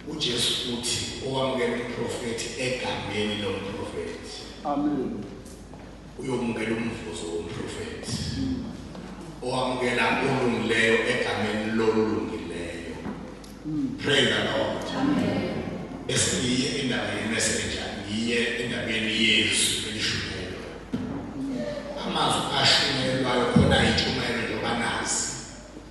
uJesu uthi owamukela umprofethi egameni lomprofethi amen uyomukela umvuzo womprofethi owamukela olungileyo egameni lolungileyo praise the lord amen esiyiye indaba yemessage ngiye endabeni yezwi elishunyelwa amazwi ashunyelwayo khona yitshumayelo njengoba nazi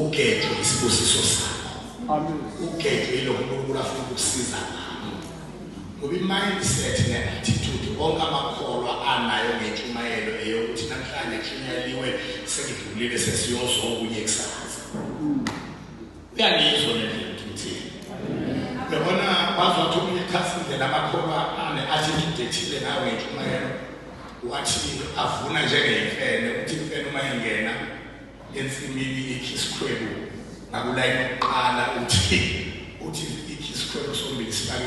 ukhetho isibusiso sakho ukhetho yilokho unkulunkulu afuna ukukusiza ngalo ngoba i-mindset ne-attitude onke amakholwa anayo ngentshumayelo eyokuthi namhlanje kushunyayeliwe sengidlulile sesiyozokunye kusasa Uyangizwa le nto ngithini? Yabona bazothi umuntu ekhasile lamakholwa ane athi ngidethile ngawe intshumayelo wathi avuna njengeyimfene uthi imfene uma ingena ensimini ikhi isikhwebu ngakulayini yokuqala uthi uthi ikhi isikhwebu sombili sifake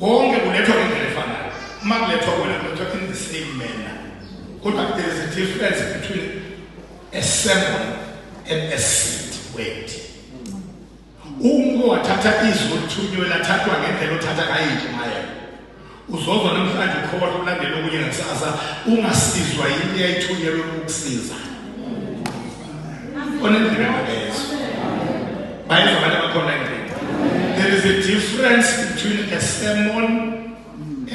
konke kulethwa ngendlela efanayo uma kulethwa kwena kulethwa in the same manner kodwa there is a difference between a sermon and a seed word umuntu wathatha izwi olithunywe lathathwa ngendlela othatha ngayo intshumayelo uzozwa namhlanje ukhoba lokulandela okunye ngakusasa ungasizwa yini eyayithunyelwe ukukusiza onendlebe makezwe bayizwa abantu abakhona endlini there is a difference between a sermon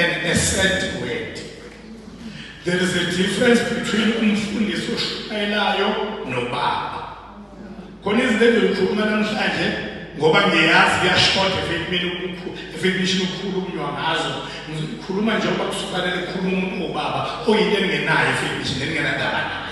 and a sad word there is a difference between umfundisi oshayelayo nobaba khona izinto engizikhuluma namhlanje ngoba ngiyazi kuyashoda efekumini efekumishini ukukhulunywa ngazo ngikhuluma njengoba kusufanele kukhuluma umuntu wobaba oyinto engenayo efekumishini engenadaba nayo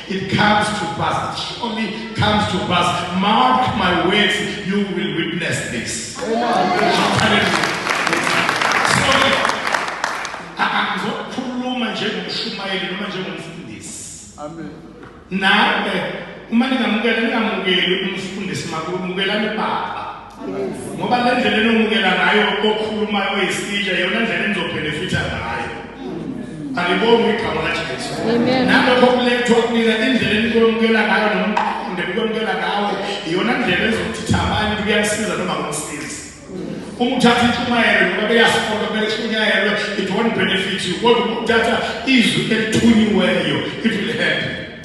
It comes to pass. It surely comes to pass. Mark my words, you will witness this. Sorry. Angizokhuluma njengomshumayeli noma njengomfundisi. Amen. Nawe uma ningamukela ningamukeli umfundisi makumukelani baba. ngoba le ndlela enomukela ngayo okhuluma oyisitsha yona ndlela enizobhenefitha ngayo alibongi igama lajesu nalokho kulethwa kunina indlela enikwemukela ngayo nomqonde nikwemukela ngawo iyona ndlela ezothitha abanye kuyasiza noma kumsizi uma uthatha intshumayelo ngoba beyasifunda kumele ishunyayelwe it won't benefit you kodwa uma uthatha izwi elithunyiweyo it will help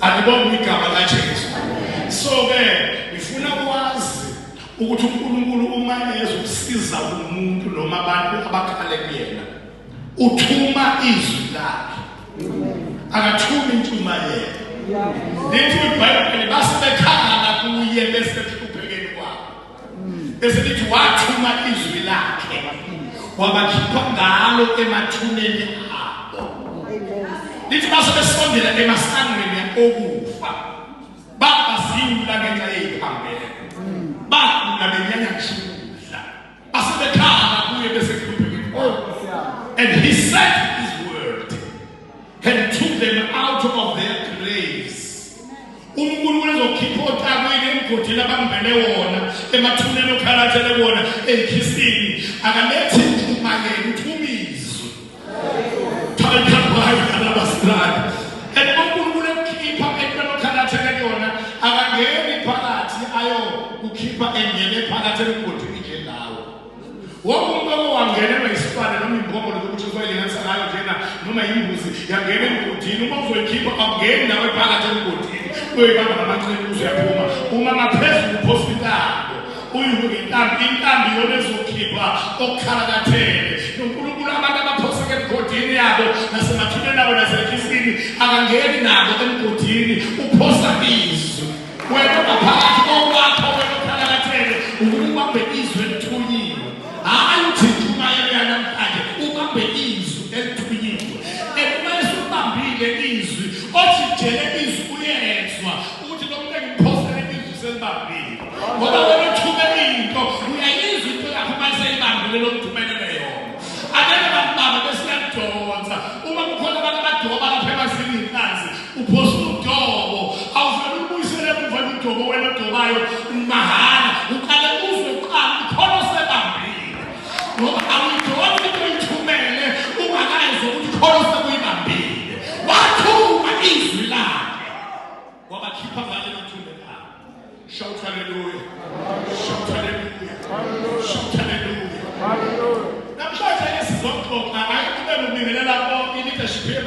Alibonge igama laJesu. So ke ngifuna kwazi ukuthi uNkulunkulu uma ezokusiza umuntu noma abantu abakhale kuyena uthuma izwi lakhe. Akathumi intshumayelo. Lithi iBhayibheli basebekhala kuye bese bese lithi wathuma izwi lakhe wabakhipha ngalo emathuneni abo lithi base besondela emasangweni okufa babazingula ngenxa yeyiphambeko bagula benyanya ngishukudla base bekhala kuye bese kuphuma and he said his word and took them out of their unkulunkulu uzokhipha otakwini emgodini abambele wona emathuneni okhalathele wona enkhisini akalethi mthuma yena uthi umizwe thaithabayi alabasirani and unkulunkulu ekukhipha entweni okhalathele kuyona akangeni phakathi ayo kukhipha engene phakathi emgodini wonke umuntu owangenelwa yisibane noma imbongolo lokuthi uzoyilinganisa ngayo njena noma yimbuzi yangena emgodini uma uzoyikhipha awungeni nawe phakathi emgodini uyoyibamba ngamancini uzoyaphuma uma ngaphezulu uphosa intambo uyihule intambo intambo iyona ezokhipha okukhalakathele nonkulunkulu abantu abaphoseke emgodini yabo nasemathuneni abo nasekhifini akangeni nabo emgodini uphosa izwi Wena ngaphakathi kokwakho wena uthakalathele ukuba ubambe izwi elithunyiwe. Hhayi uthi intshumayelo yanamhlanje ubambe izwi elithunyiwe. And uma esubambile izwi othi jele izwi uyezwa ukuthi lo muntu engiphosele izwi selibambile. Ngoba wena uthumele into uyayizwa into yakho uma seyibambile lo muntu umelele yona. Angeke bakubambe bese uyakudonsa. Uma kukhona abantu abadoba lapha emasimini phansi Uphosa udobo, awuvele ulubuyisele emuva udobo wena odobayo mahhala. Uqale uzwe kuqala ukhona osebambile. Ngoba awuyidonsi into oyithumele ungakayizwa ukuthi khona osekuyibambile. Wathuma izwi lakhe. Wabakhipha ngale nothule labo. Shout hallelujah. Shout hallelujah. Shout hallelujah. Namhlanje esizomxoxa ngaye kube ngibingelela bonke i-leadership